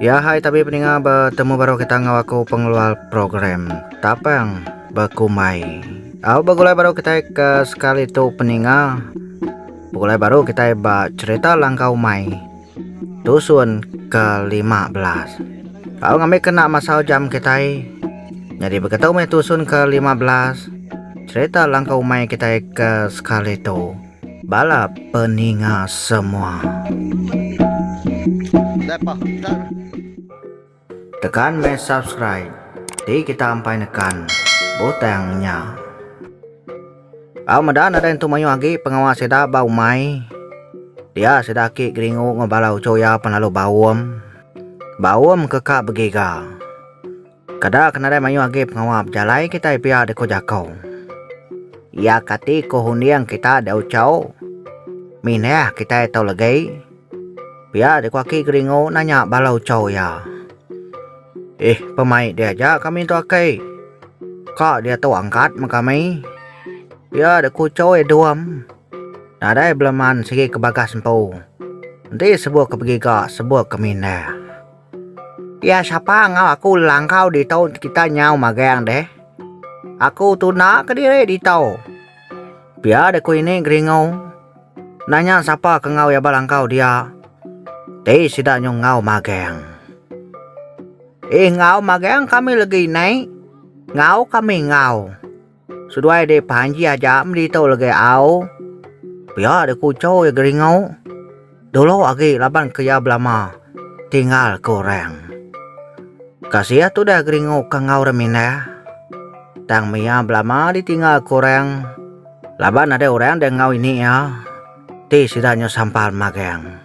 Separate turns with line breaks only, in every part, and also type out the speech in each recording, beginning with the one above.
Ya hai tabi peninga betemu baru kita ngau aku pengeluar program tapang bekumai. Au begulai baru kita ke sekali tu peninga. Begulai baru kita ba cerita langka umai. Tusun ke 15. Au ngambil kena masa jam kita. Jadi begitu meh tusun ke 15. Cerita langka umai kita ke sekali tu. Bala peninga semua. Tekan meh subscribe ti kita ampai nekan butang nya. Au medan ada intu mayuh agi pengawa sida ba umai. Dia sida aki geringu enggau bala uchu iya pen lalu baum. Baum ke ka begiga. Kada ke nadai mayuh agi pengawa bejalai kitai pia di ko jako. Ia kati ko hunding kita di Auchau. Minah kitai tau legai. Pia di ko aki Geringo nanya bala Auchau ia. Ih pemai dia aja kami tu akai. Ka dia tu angkat me kami. Pia di ko Auchau ia duam. Nadai beleman sigi ke bagas empu. Enti sebuh ke begiga sebuh ke minah. Iya sapa enggau aku lelangkau ditu kita nyau magang deh. Aku tunda ke diri ditu. Pia deh ku ini geringu. Nanya sapa ke enggau iya belangkau dia. Ti sida nyu enggau magang. Eh enggau magang kami legi nai. Enggau kami enggau. Seduai deh Panji aja meli tu legi au. Pia deh kuchau iya geringu. Dulu agi laban ke iya belama tinggal ke orang. Kasih tudah geringu ke enggau orang mindah. Tang meh iya belama ditinggal ke orang laban ada orang deh enggau ini iya ti sida nyau sampal magang.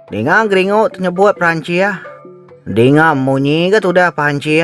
Ninga geringu tenyebut Perancih. Dinga munyi ga tudah Panji.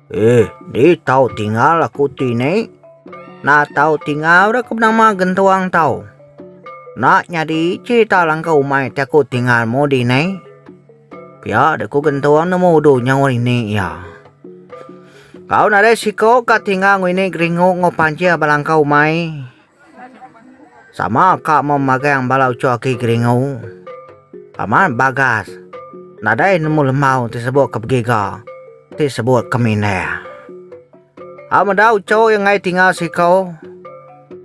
Ih, di tau tingal aku ti ne. Na tau tingal ra ke benama gentuang tau. Na nyadi cerita langkau umai ti aku tingal mu di ne. Pia de ku gentuang nemu udu nyau ini iya. Kau nadai siko ka tingal ngini geringu ngo panjir ba langkau umai. Sama ka meh magang bala ucho aki Geringu. Amat bagas. Nadai nemu lembau ti sebut ke begiga, ti sebut ke mindah. A meda ucho iya enggai tinga siko,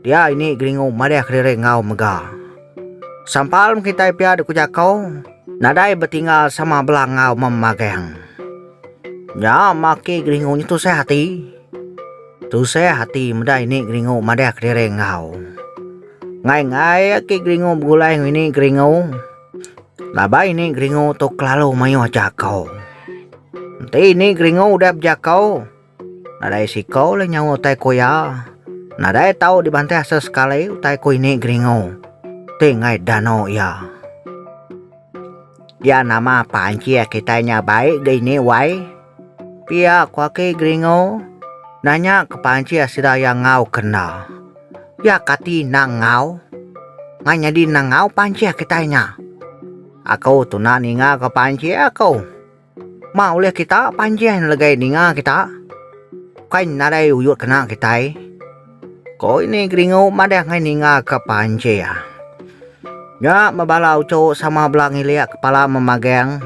dia ini Geringu madih kediri enggau mega. Sampal meh kitai pia dek ku jako, nadai betinga sama bela enggau meh magang. Nya meh aki Geringu nyetusah ati. Tusah ati meda ini geringu madah kediri enggau. Ngai-ngai aki geringu begulai enggau ini geringu. Laban ini geringu tu kelalu mayuh jakau. Enti ini geringu udah bejakau, nadai sikau le nyawa utai ku iya. Nadai tau dibantah sesekali utai ku ini geringu ti ngai dano iya. Iya nama panci kitai nya baik ga ini wai. Pia ku aki Geringo, nanya ke pancit sida iya enggau ke enda. Pia kati enda enggau? Mai nyadi enda enggau pancit kitai nya. Aku tu enda ninga ke pancit aku. Ma ulih kita pancit legai ninga kita. Bukai nadai uyut kena kitai. Ko ini Geringo madah angai ninga ke pancit. Nya meh bala uchu sama bela ngilik kepala memagang.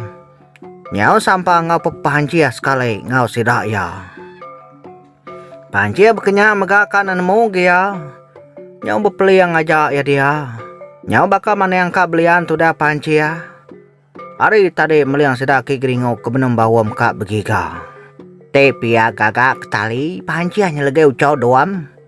Nyau sampang enggau pepanchih sekali enggau sida iya. Panchih bekenya mega ka nemu gia nyau bepeling aja iya dia. Nyau baka maning ka belian tudah panchih. Hari tadi meling sida ke geringu ke benung baum ka begiga. Ti pia gaga ke tali panchih nyelegeu chau doam.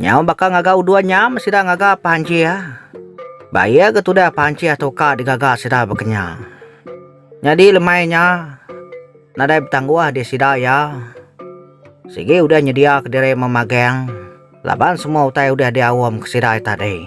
Nyau baka ngaga udon nyam sida ngaga pancih. Ba iya ke tudah pancih tu ka digaga sida bakanya. Nyadi lemai nya nadai betangguh di sida iya. Sigi udah nyedia ke diri memagang laban semua utai udah diaum ke sida iya tadi.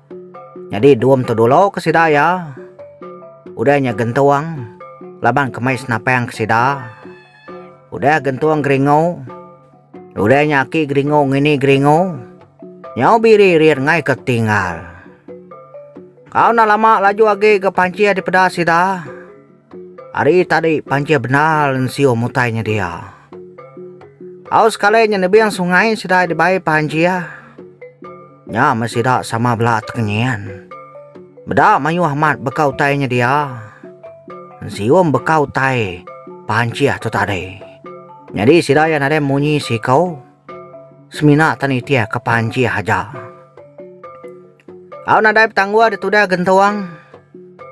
Nyadi dum tu dulu ke sida iya. Udah nya gentung laban kemai senapang ke sida. Udah gentung geringu. Udah nya aki geringu ngini geringu. Nyau biri rin ngai ke tinggal. Kau enda lama laju agi ga pancih dipeda sida. Ari tadi panjai bendar ensio mutai nyedia. Au sekali nya nebing sungai sida dibai panjai. Nya meh sida sama bela tekenyin. Meda mayuh amat beka utai nyedia. Ensio beka utai panjai tu tadi. Nyadi sida iya nadai munyi siko. Semina tan itik ke panjai aja. Au nadai petangguh di tudah gentuang.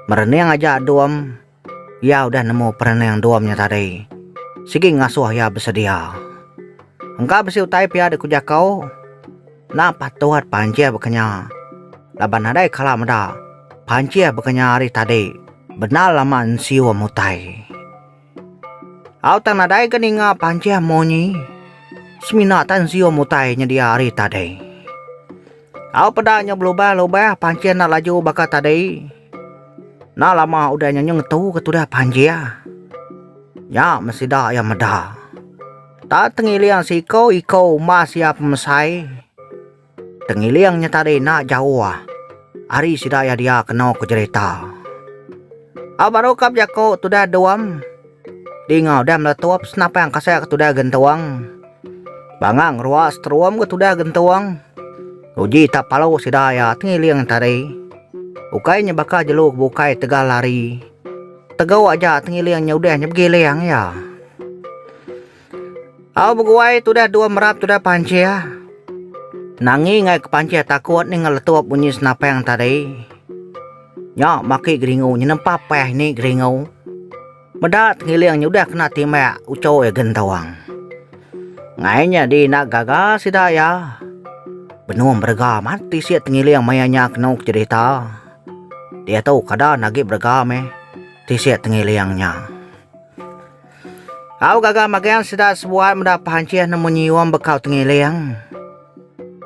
Merening aja Dom. Iya udah nemu perening Dom nya tadi. Sigi ngasuh iya besedia. Engka bisi utai pia dek ku jaku. Enda patut pancih baka nya. Laban nadai kala meda, pancih baka nya ari tadi bendar lama ensium utai. Au tang nadai ke ninga panjang munyi. Semina tan siung mutai nyedia ari tadi. Au peda nya belubah-lubah panjang enda laju baka tadi. Enda lama udah nya ngetu ke tudah panjang. Nya meh sida iya meda. Tang tengiling siko-iko umbas iya pemesai. Tengiling nya tadi enda jauh ari sida iya dia kena ku jerita. Au baru ka bejaku tudah Dom. Dinga udah meletup senapang kasai ke tudah Gentung. Bangah ngerua seterum ke tudah Gentung. Uji tak palu sida iya Tengiling tadi. Ukai nya baka jelu ke bukai tegal lari. Tegau aja Tengiling nya udah nya begiling iya. Au beguai tudah dua merap tudah pancir. Nangi ngai ke pancir takut ni ngeletup bunyi senapang tadi. Nya maki geringu nyenempap payah ni geringu. Meda tengiling nyudah kena timbak uco iya gentung. Ngai nya di enda gaga sida iya. Benung berega amat tisi tengiling maya nya kenu ke cerita. Diatu kada nagi berega meh tisi tengiling nya. Au gaga magang sida sebuat meda pancih nemu nyium bekau tengiling.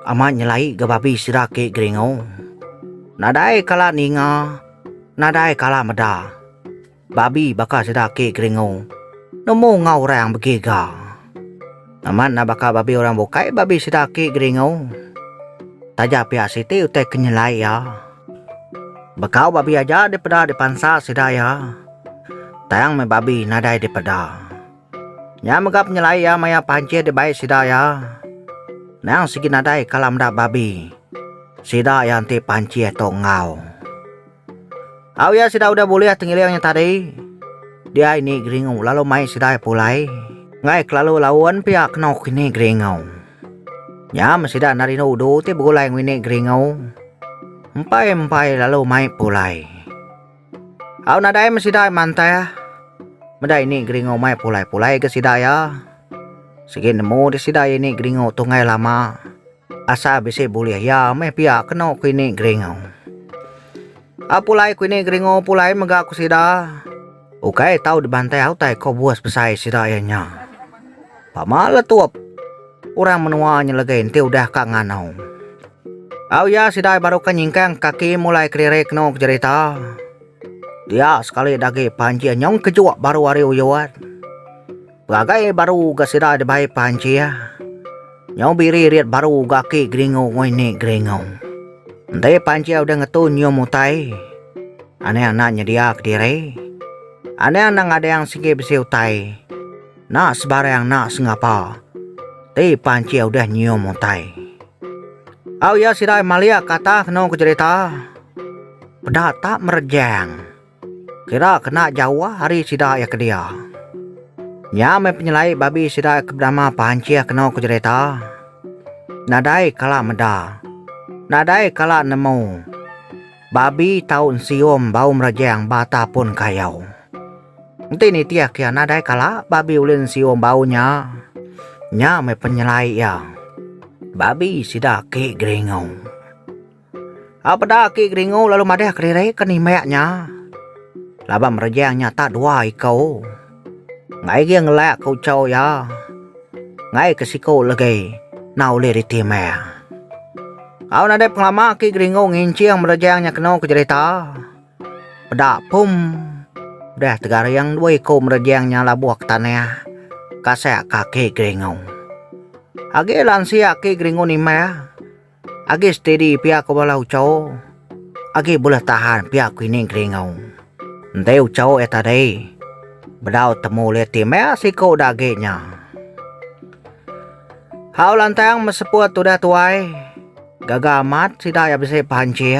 Amat nyelai ga babi sida ke geringu. Nadai kala ninga, nadai kala meda. Babi baka sida ke geringu nemu enggau orang begiga. Amat enda baka babi orang bukai, babi sida aki geringu. Taja pia siti utai ke nyelai iya. Bekau babi aja dipeda dipansa sida iya. Tang meh babi nadai dipeda. Nya mega penyelai iya maya panchit dibai sida iya. Nang sigi nadai kala meda babi, sida iya enti panchit tu enggau. Au iya sida udah bulih tengiling nya tadi, dia ini geringu lalu mai sida pulai enggai kelalu laun pia keno kini geringu. Nyam sida enda rindu udu ti begulai ngini geringu. Empai-empai lalu mai pulai. Au nadai meh sida mantah meda ini geringu mai pulai-pulai ga sida iya. Sigi nemu deh sida ini geringu tu enggai lama. Asal bisi bulih iya meh pia keno kuini geringo. A pulai kuini geringo pulai mega ku sida. Ukai tau dibantai au utai ko bos besai sida iya nya. Pama letup orang menua nyelegei enti udah ka ngano. Au iya sida baru ka nyingkang kaki mulai kelirik keno jerita. Dia sekali dagi Panji nyong kejuk baru ari Uyot. Peragai baru ga sida dibai Panjie. Nyau biri riat baru ga aki geringu ngoi ni geringu. Enti Panjie udah ngetu nyium utai, Anang enda nyedia kediri. Anang enda ngadang sigi bisi utai. Enda sebarang enda sengapa. Ti Panjie udah nyium utai. Au iya sidai malik katah kenu ke jerita. Peda tak merejang. Kira kena jauh ari sida iya ke dia. Nya meh penyelai babi sida iya ke benama Pancih kena ku jerita, Nadai kala meda, nadai kala nemu, babi tau ensium bau merejang ba tapun kayau. Enti nitih ke nadai kala babi ulih ensium bau nya, nya meh penyelai iya, babi sida ke Geringau. Au peda aki Geringu lalu madahka diri ke nimbak nya. Laban merejang nya tak dua iko. Ngaigi ngelak ke ucho iya. Ngaii ke siko legi enda ulih ditimbak. Au nadai pengelama aki Geringu nginching merejang nya keno ke jerita. Peda pum udah tegaring dua iko merejang nya labuh ke tanah kasak ka aki Geringu. Agi lansia aki Geringu nimbak. Agi steady pia ko bala uco. Agi buleh tahan pia ko ini geringo. Enti uco iya tadi. Bedau temu ulih ti meh siko udah agi nya. Hau lantang meseput udah tuai. Gaga amat sida iya bisi pancing.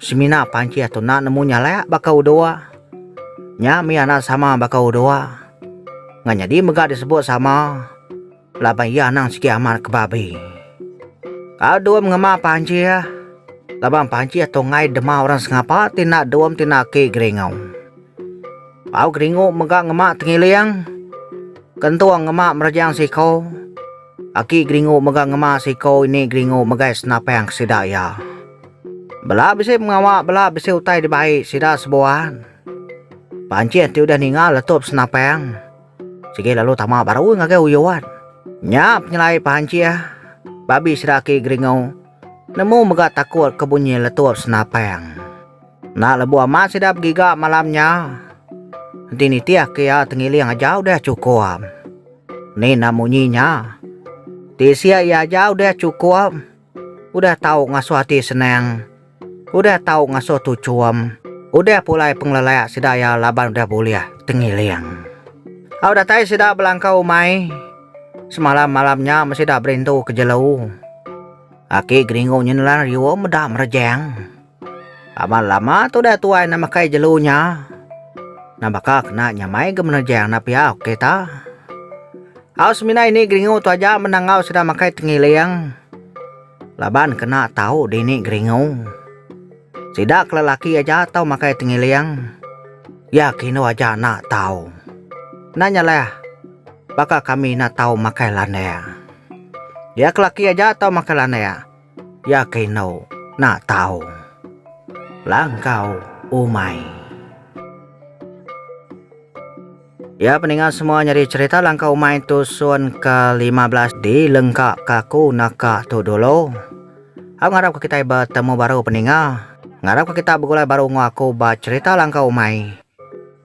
Semina pancih tu enda nemu nyalak baka udua. Nya mih anak sama baka udua. Ngah nyadi mega disebut sama laban iya anang sigi amat ke babi. Au dum ngema pancih laban pancih tu enggai dema orang sengapa ti enda dum ti enda aki geringu. Au geringu mega ngema tengiling. Kentung ngema merejang siko. Aki geringu mega ngema siko ini geringu megai senapang ke sida iya. Bela bisi pengawa bela bisi utai dibai sida sebuan. Pancit ti udah ninga letup senapang sigi lalu tama baru ngagai uyuan. Nya penyelai pancit babi sida aki Geringu nemu mega takut ke bunyi letup senapang. Enda lebuh amat sida begiga malam nya. Enti nitih ke iya tengiling aja udah chukup. Ni enda munyi nya. Ti sia iya aja udah chukup. Udah tau ngasuh ati senang. Udah tau ngasuh tu chum. Udah pulai pengelelak sida iya laban udah bulih tengiling. Au datai sida belangkau umai. Semalam malam nya meh sida berintu ke jelu. Aki Geringu nyenelan riu meda merejang. Amat lama tudah tuai enda makai jelu nya. Enda baka kena nyamai ga menejang enda pia ok ta. Au semina ini geringu tu aja meda enggau sida makai tengiling laban kena tau dini geringu. Sida ke lelaki aja tau makai tengiling. Iya ke indu aja enda tau. Enda nya leh baka kami enda tau makai landak. Iya ke lelaki aja tau makai landak. Yake eno nak tau langkau umai. Ya peninga semua nyadi cerita langkau umai tusun ke lima belas di lengka ka ku naka tu dulu. Au ngarap ka kitai ba temu baru peninga. Ngarap ka kita begulai baru enggau aku ba cerita langkau umai.